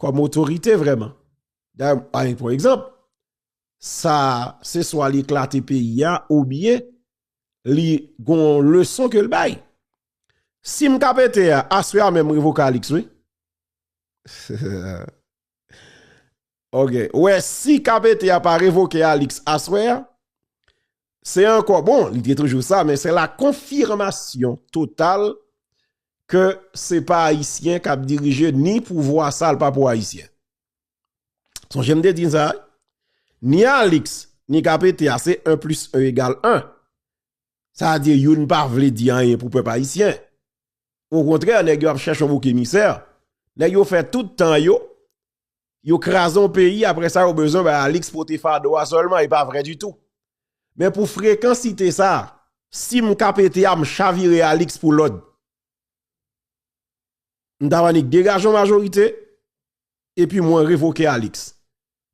kòm otorite vrèman. Dayè m bay pou egzanp, sa se swa li eklate peyi a ou byen li gon yon leson ke l bay. Si m ka pete a, aswè a menm m revoke Alix wi. Ok ou wè si KPT a pa revoke Alix aswè a se ankò bon li te toujou sa men se la konfirmasyon total ke se pa ayisyen kap dirije ni pouvwa sa li pa pou ayisyen sonje m te di sa ni Alix ni KPT a se 1 plis 1 egal 1 sa di youn pa vle di anyen pou pèp ayisyen o kontrè nèg yo ap chèche yon bouk emisè nèg yo fè tout tan yo yo kraze yon peyi apre sa yo bezwen bay Alix pote fado a sèlman e pa vre ditou. Men pou frekansite sa, si m ka pete a m chavire Alix pou lòd. M ta annik degaje yon majorite epi mwen revoke Alix.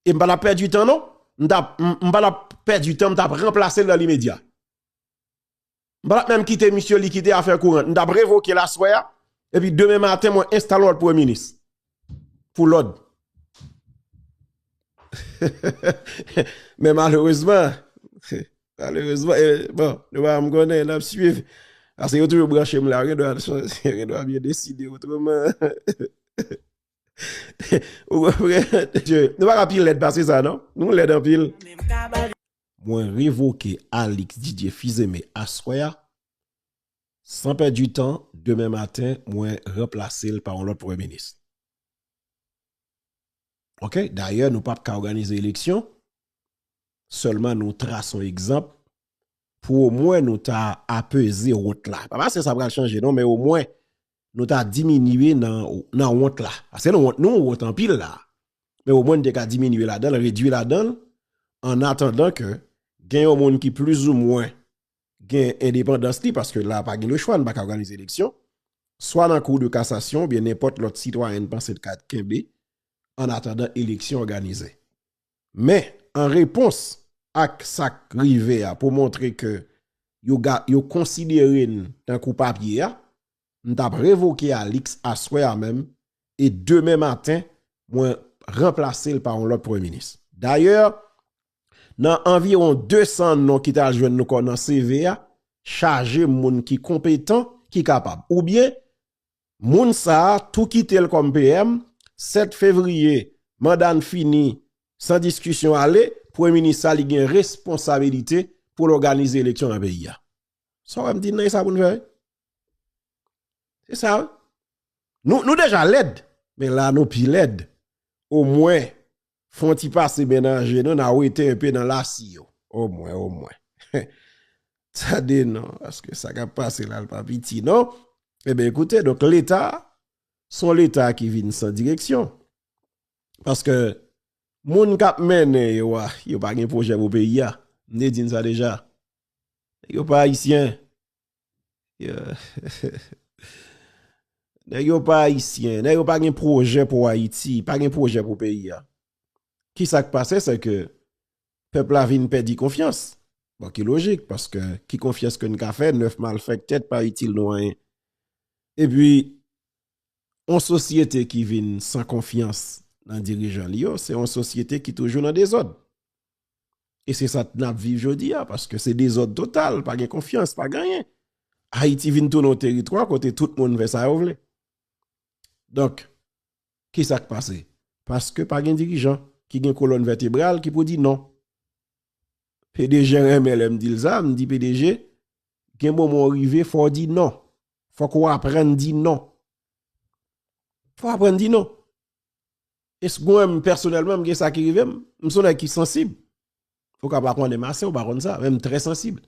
E m pa ta pèdi tan non, m pa ta pèdi tan m ta ranplase l nan limedya. M pa tap menm kite misye li kite afè courant. M tap revoke l aswè a epi demen maten mwen enstale lòt premye minis pou lòd. Men malerezman, malerezman, bon, nou pa janm konnen, n ap swiv. Ase yo toujou branche m la, gendwa m yo deside otreman. Ou konprann? Nou pa ka pi lèd pase sa non. Nou lèd anpil. mwen revoke Alix Didier Fils-Aimé aswè a, san pèdi tan, demen maten mwen ranplase l pa yon lòt Premye Minis. Ok, dayè nou pap ka òganize eleksyon, sèlman nou trase yon egzanp pou omwen nou ta apeze wot la. Pa pase sa pral chanje non, men omwen nou ta diminye nan wont la. Paske nou wont, nou wont anpil la. Men omwen nou te ka diminye ladan l, redui ladan l, an atandan ke gen yon moun ki plizoumwen gen endepandans li, paske la pa gen lechwa, nou pa ka òganize eleksyon, swa nan kou de kasasyon, oubyen nenpòt lòt sitwayen nou panse nou ka kenbe, an atandan eleksyon òganize. Men, an repons ak sa k rive a pou montre ke yo konsidere n tankou papye a, m t ap revoke Alix aswè a menm e demen maten mwen ranplase l pa yon lòt Premye Minis. Dayè, nan anviwon 200 non ki t al jwenn nou kò nan CV a, chaje moun ki konpetan, ki kapab. Oubyen, Moun sa tou kite l kòm PM, 7 fevriye manda n fini san diskisyon ale, premye minis sa li gen responsabilite pou l òganize eleksyon nan peyi a. Sa w wè m di n nan e sa pou n fè wi. Se sa wi. Nou deja lèd men la nou pi lèd omwen Fon ti pase men nan je nou na wete yon pe nan lasi yo o mwen o mwen tande non aske sa kap pase la pa piti non e ben ekoute donk leta son leta ki vin san direksyon paske moun kap mennen yo a yo pa gen pwojè pou peyi a m te di n sa deja yo pa ayisyen Nèg yo pa ayisyen, nèg yo pa gen pwojè pou Ayiti, pa gen pwojè pou peyi a. Ki sa k pase se ke pèp la vin pèdi konfyans. Bon ki lojik, paske ki konfyans ke n ka fè 9 malfèktè k pa itil nou anyen. E pi, yon sosyete ki vin san konfyans nan dirijan li yo, se yon sosyete ki toujou nan dezòd. E se sa n ap viv jodi a, paske se dezòd total, pa gen konfyans, pa gen anyen. Ayiti vin tounen yon teritwa kote tout moun fè sa yo vle. Donk, ki sa k pase? Paske pa gen dirijan ki gen kolòn vètebral ki pou di non. PDG renmen lè m di l sa, m di PDG, gen moman ou rive fò w di non. Fòk ou aprann di non. Fò w aprann di non. Es mwen m pèsonèlman m gen sa ki rive m, m son nèg ki sansib. Ou ka pa konnen m ase, ou pa konn sa, men m trè sansib.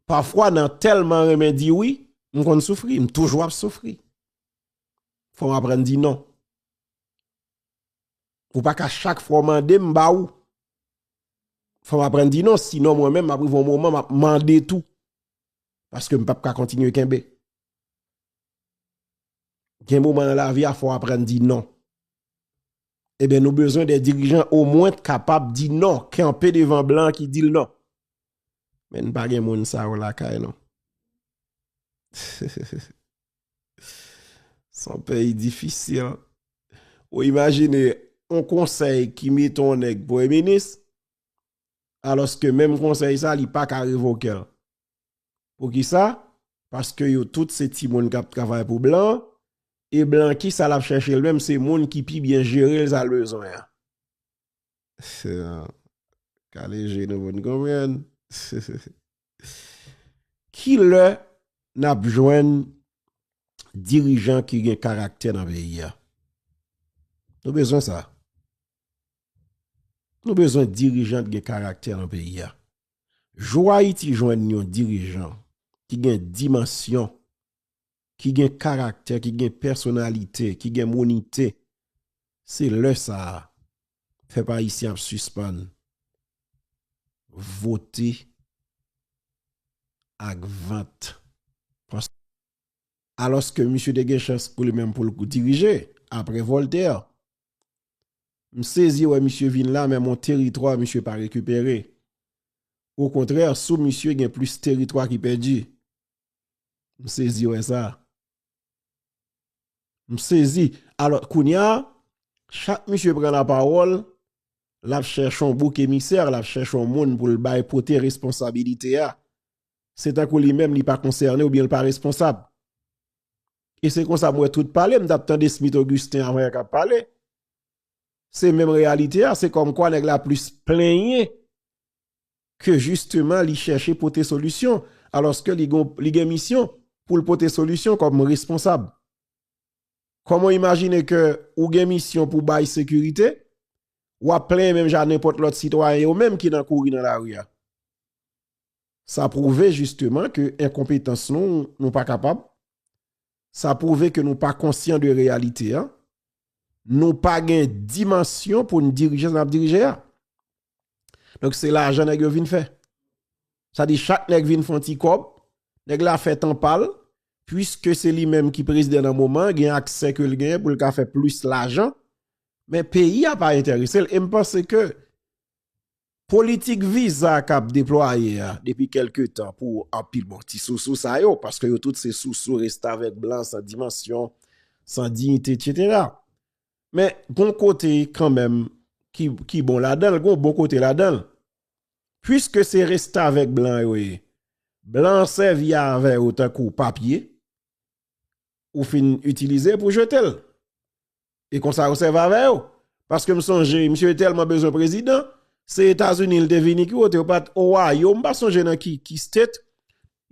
Pafwa nan tèlman renmen di wi, m konn soufri, m toujou ap soufri. Fò m aprann di non. Ou pa ka chak fwa w mande m ba ou. Fò m aprann di non, si non mwen men m ap rive yon moman m ap mande tou. Paske m pap ka kontinye kenbe. Gen moman nan lavi a fò aprann di non. Eben nou bezwen de dirijan o mwen t kapab di non, kenpe devan blan ki dil non. Men n pa gen moun sa yo lakay nou. Son peyi difisil. Ou imajine on konsey ki mete on neg premye minis, aloske menm konsey sa li pa ka revokel. Poukisa? Paske yo tout se timoun k ap travay pou blan, e blan ki sa l ap chèche l menm se moun ki pi byen jere l sa l bezwen an. Kale je nou pou n konprann. Ki lè n ap jwenn dirijan ki gen karaktè nan peyi a? Nou bezwen sa. Nou bezwen dirijan ki gen karaktè nan peyi a. Jou Ayiti jwenn yon dirijan ki gen dimansyon, ki gen karaktè, ki gen pèsonalite, ki gen mounite, se lè sa a pèp ayisyen ap sispann vote ak vant. Alòske misye te gen chans pou li menm pou l dirije apre Voltaire. M sezi wè misye vin la men mon teritwa misye pa rekipere. O kontrè sou misye gen plis teritwa ki pèdi. M sezi wè sa. M sezi. Alò kounya chak misye pran la pawòl l ap chèche yon bouk emisè, l ap chèche yon moun pou l bay pote responsabilite a. Se tankou li menm li pa konsène oubyen l pa responsab. E se konsa m wè tout pale, m tap tande Smith Augustin avan yè kap pale. Se menm reyalite a, se kòm kwa nèg la plis plenyen ke jisteman li chèche pote solisyon, alòske li gen misyon pou l pote solisyon kòm responsab. Kòman w imajine ke ou gen misyon pou bay sekirite, wap plenyen menm jan nenpòt lòt sitwayen yo menm ki nan kouri nan lari a. Sa pwouve jisteman ke enkonpetans nou, nou pa kapab. Sa pwouve ke nou pa konsyan de reyalite a. Nou pa gen dimansyon pou n dirije sa n ap dirije a. Donk se lajan nèg yo vin fè. Sa di chak nèg vin fon ti kòb, nèg la fè tan pa l, pwiske se li menm ki prezidè nan moman, gen aksè ke l gen pou l ka fè plis lajan, men peyi a pa enterese l. E m panse ke Politik viza k ap deplwaye a depi kèlke tan pou anpil bon ti sousou sa yo, paske yo tout se sousou restavèk blan san dimansyon, san diyite etsetera. Men gon kote kanmenm ki bon ladan l, gon bon kote ladan l. Puiske se restavèk blan yo ye, blan an sèvi avè yo tankou papye ou fin itilize pou jete l. E konsa yo sèv avè yo. Paske m sonje, misye te tèlman bezwen prezidan, se Etazini li te vini ki kote yo pat Ohio, m pa sonje nan ki state,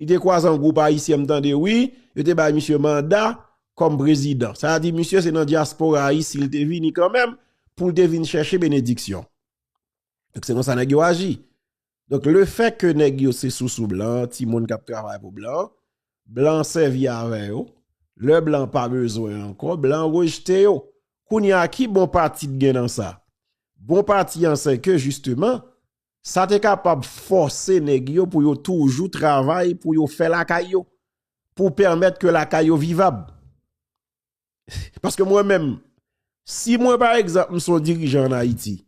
li te kwaze yon gwoup ayisyen m tande wi, yo te bay misye manda kòm prezidan. Sa a di misye se nan dyaspora ayisyen li te vini kanmenm pou li te vin chèche benediksyon. Donk se konsa nèg yo aji. Donk le fè ke nèg yo se sousou blan, ti moun kap travay pou blan, blan sèvi avè yo, lè blan pa bezwen ankò, blan rejte yo. Kounye a ki bon pati t gen nan sa? Bon pati an se ke jisteman, sa te kapab fòse nèg yo pou yo toujou travay pou yo fè lakay yo, pou pèmèt ke lakay yo vivab. Paske mwen menm, si mwen pa egzant m son dirijan an Ayiti,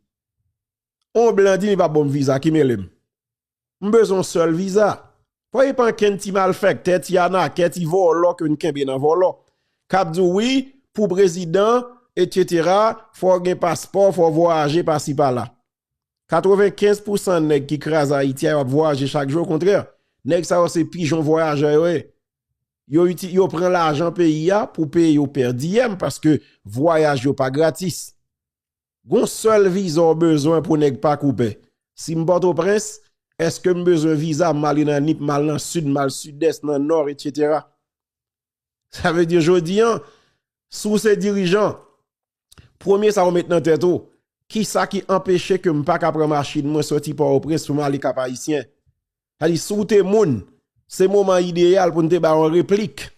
on blan di li pa bonm viza, ki mele m? M bezon sèl viza. Fò e pan ken ti mal fèk, tè ti ana, kè ti vò lò ke n kenbe nan vò lò. Kap di w wi, pou prezidan, et cetera, fò gen paspò, fò vò aje pa si pa la. 95 pou 100 nèg ki kraz Ayiti a yo ap vò aje chak jou, o kontrè, nèg sa yo se pijon vò aje yo e. Yo pran lajan peyi a pou peye yo pèdiyèm paske vwayaj yo pa gratis. Gon sèl viza w bezwen pou nèg pa koupè. Si m Pòtoprens, èske m bezwen viza m ale nan Nip, m al nan Sid, m al Sidès, nan Nò, etc. Sa vle di jodi an, si w se dirijan, Premye sa ou met nan tèt ou, kisa ki anpeche ke m pa ka pran machin mwen sòti Pòtoprens pou m ale Kap Ayisyen? Sa di si w te moun, se moman ideyal pou n te bay yon replik.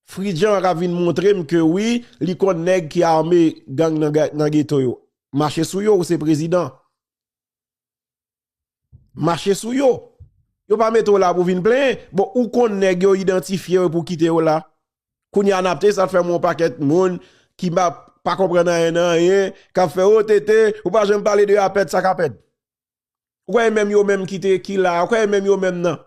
Fridjan an ka vin montre m ke wi, li konn nèg ki ame gang nan geto yo. Mache sou yo, ou se prezidan. mache sou yo. Yo pa mete w la pou vin plenyen. Bon, ou konn nèg yo idantifye yo pou kite yo la. Kounye a n ap te sa fè m wè yon pakèt moun ki m ap pa konprann anyen nan anyen k ap fè o TT ou pa janm pale de Apèd sa k Apèd? Ou kwè e menm yo menm ki te ki la a? Ou kwè e menm yo menm nan?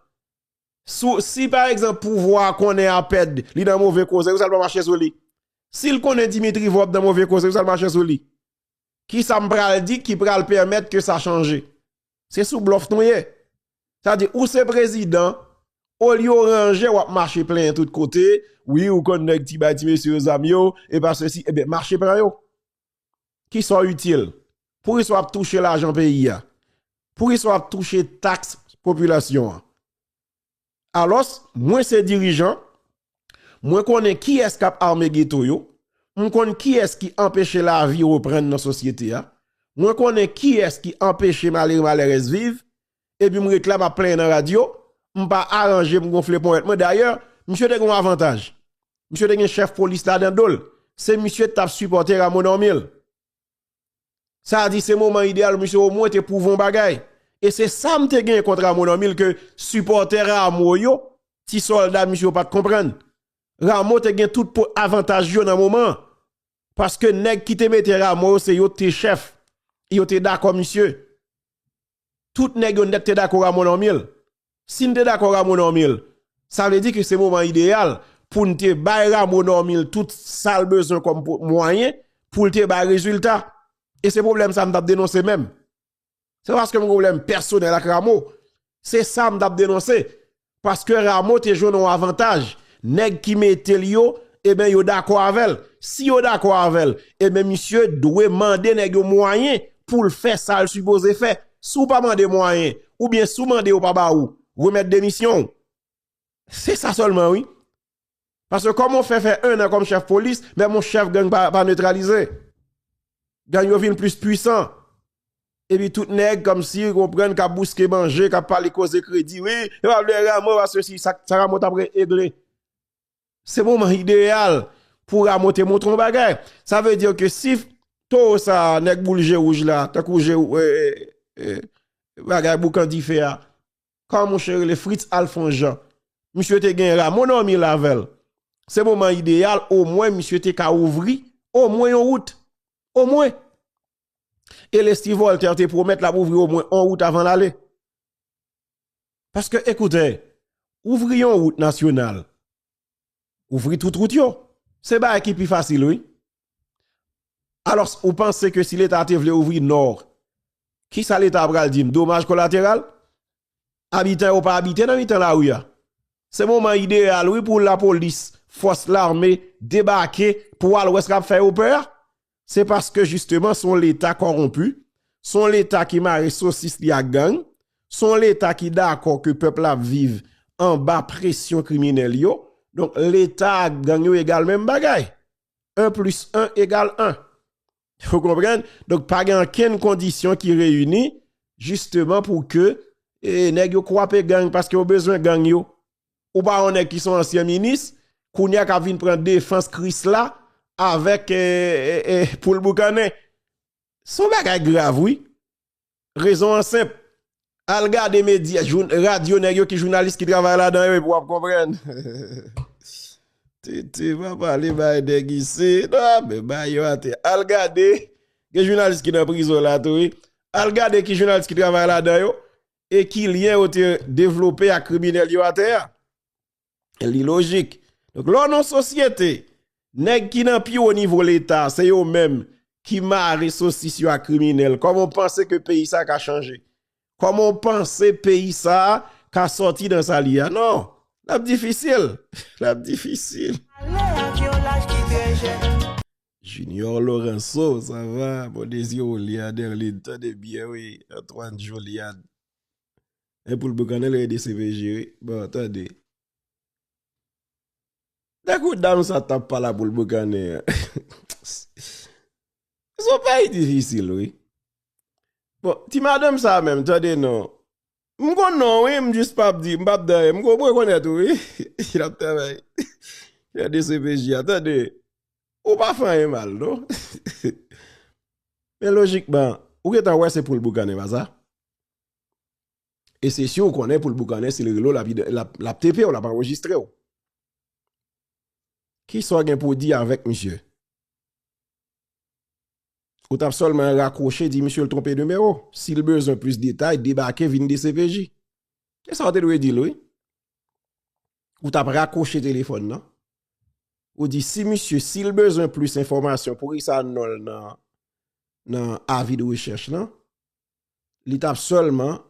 Sou si pa egzanp pouvwa a konnen Apèd li nan move koze pou sa l pa mache sou li? Si l konnen Dimitri Vòb nan move koze pou sa l mache sou li? Kisa m pral di ki pral pèmèt ke sa chanje? Se sou blòf nou ye. Sa di ou se prezidan, olye w ranje w ap mache plenyen tout kote, wi ou konn nèg ti bay ti mesye yo zam yo, e pa sesi, e ben mache pran yo. Kisa w itil? Poukisa w ap touche lajan peyi a? Poukisa w ap touche taks popilasyon an? Alos, mwen se dirijan, mwen konnen kiyes kap arme geto yo, m konn kiyes ki anpeche lavi reprann nan sosyete a, mwen konnen kiyes ki anpeche malere malerez viv, epi m ret la map plenyen nan radyo, m pa aranje m gonfle ponyèt mwen, dayè, misye te gen yon avantaj, misye te gen chef polis la nan dol, se misye ki tap sipote Rameau Normil. Sa di se moman idéal misye o mwen te prouve yon bagay. E se sa m te gen kont Rameau Normil ke sipòtè Rameau yo, ti sòlda misye yo pat konprann. Rameau te gen tout po avantaj yo nan moman. Paske nèg ki te mete Rameau yo se yo te chèf. Yo te dakò misye. Tout nèg yo nèt te dakò Rameau Normil. Si n te dakò Rameau Normil, sa vle di ke se moman ideyal pou n te bay Rameau Normil tout sa l bezwen kòm mwayen pou l te bay rezilta. E se pwoblèm sa m t ap denonse menm. Se pa paske m gen pwoblèm pèsonèl ak Rameau. Se sa m t ap denonse. Paske Rameau te jwenn yon avantaj, nèg ki mete l yo, eben yo dakò avè l. Si yo dakò avè l, eben misye dwe mande nèg yo mwayen pou l fè sa l sipoze fè. Si w pa mande mwayen, oubyen si w mande yo pa ba ou, remèt demisyon w. Se sa sèlman wi. Paske kòman w fè fè 1 an kòm chèf polis, menm yon chèf gang pa netralize. Gang yo vin plis pwisan. Epi tout nèg kòmsi ou konprann kap bouske manje, kap pale koze kredi, wi, yo pa vle Rameau a sesi, sa Rameau tap regle. Se moman ideyal pou Rameau te montre yon bagay. Sa vle di ke si towo sa a, nèg boul je wouj la, tankou je, bagay boukan dife a, Kòman mouche rele Fritz Alphonse Jean. Misye te gen Rameau Normil avè l. Se moman ideyal omwen misye te ka ouvri omwen yon wout. Omwen. E Leslie Voltaire te pwomèt l ap ouvri omwen yon wout avan l ale. Paske ekoute, ouvri yon wout nasyonal Ouvri tout route yo. Se bagay ki pi fasil wi. Alos ou panse ke si leta te vle ouvri nor, ki sa leta pral di m? Domaj kolateral? Abitan yo pa abite nan mitan lari a. Se moman ideyal wi pou lapolis, fos lame debake pou al wè sa kap fè yo pè a. Se paske jisteman son leta kòronpi, son leta ki mare sosis li ak gang, son leta ki dakò ke pèp la ap viv anba presyon kriminèl yo, donk leta ak gang yo egal menm bagay. 1 plis 1 egal 1. Ou konprann? Donk pa gen ankenn kondisyon ki reyini jisteman pou ke nèg yo kwape gang paske yo bezwen gang yo. Ou pa yon nèg ki son ansyen minis, kounye a k'ap vin pran defans Krisla avèk poul boukannen. Son bagay grav wi. Rezon an senp. Al gade medya, radyo nèg yo ki jounalis ki travay ladan yo epi w'ap konprann. TT pa pale bay nèg isi. Nan men bay yo atè. Al gade, gen jounalis ki nan prizon la tou wi. Al gade ki jounalis ki travay ladan yo. e ki lyen yo te devlope ak kriminèl yo atè a. Li lojik. Donk lè w nan yon sosyete, nèg ki nan pi wo nivo leta se yo menm ki mare sosis yo ak kriminèl, kòman w panse ke peyi sa ka chanje? Kòman w panse peyi sa ka sòti nan sa li ye a? Non! L ap difisil! L ap difisil! Junior Lorenzo sa va bon dezi ou li a Derline tande byen wi Antoine Joliade e poul boukannen lè dcpj wi bon tande de kou dam sa tap pala poul boukannen an son peyi difisil wi bon ti madanm sa menm tande non M konn non wi m jis pap di m pap dèyè m rekonèt ou wi lap travay chè dcpj a tande ou pa fè anyen mal non men lojikman ou gentan wè se poul boukannen pa sa e se siw konnen poul boukannen sil rele w lap tepe w lap anrejistre w kisa w gen pou di avèk misye Ou tap sèlman rakwoche di misye l twonpe nimewo. Si l bezwen plis detay, debake vin dcpj. Se sa w te dwe di l wi. Ou tap rakwoche telefòn nan. Ou di si misye, si l bezwen plis enfòmasyon poukisa non l nan avi de rechèch lan. Li tap sèlman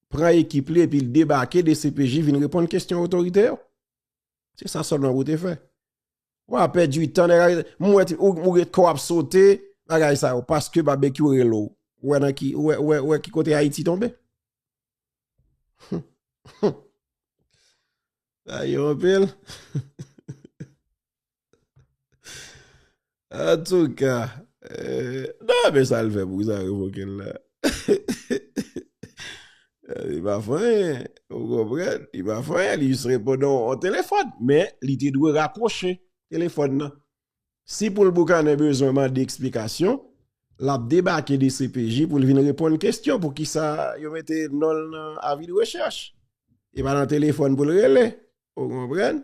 pran ekip li epi l debake dcpj vin reponn kesyon otorite yo. Se sa sèlman pou w te fè. Wa pèdi tan nèg arete. M wè ti ou gen kò ap sote bagay sa yo paske Babekyou rele w. Ou wè nan ki ou wè ou wè ou wè ki kote Ayiti tonbe. Sa yo anpil. Antouka. Nan men sa l fè pou sa revoke l la. Li pa fè anyen, ou konprann, li pa fè anyen, li jis reponn yon telefòn, men li te dwe rakwoche telefòn nan. Si poul Boukannen bezwen mande eksplikasyon, l ap debake dcpj pou l vin reponn kestyon pou ki sa yo mete non l nan avi de rechèch. E pa nan telefòn pou l rele, ou konprann.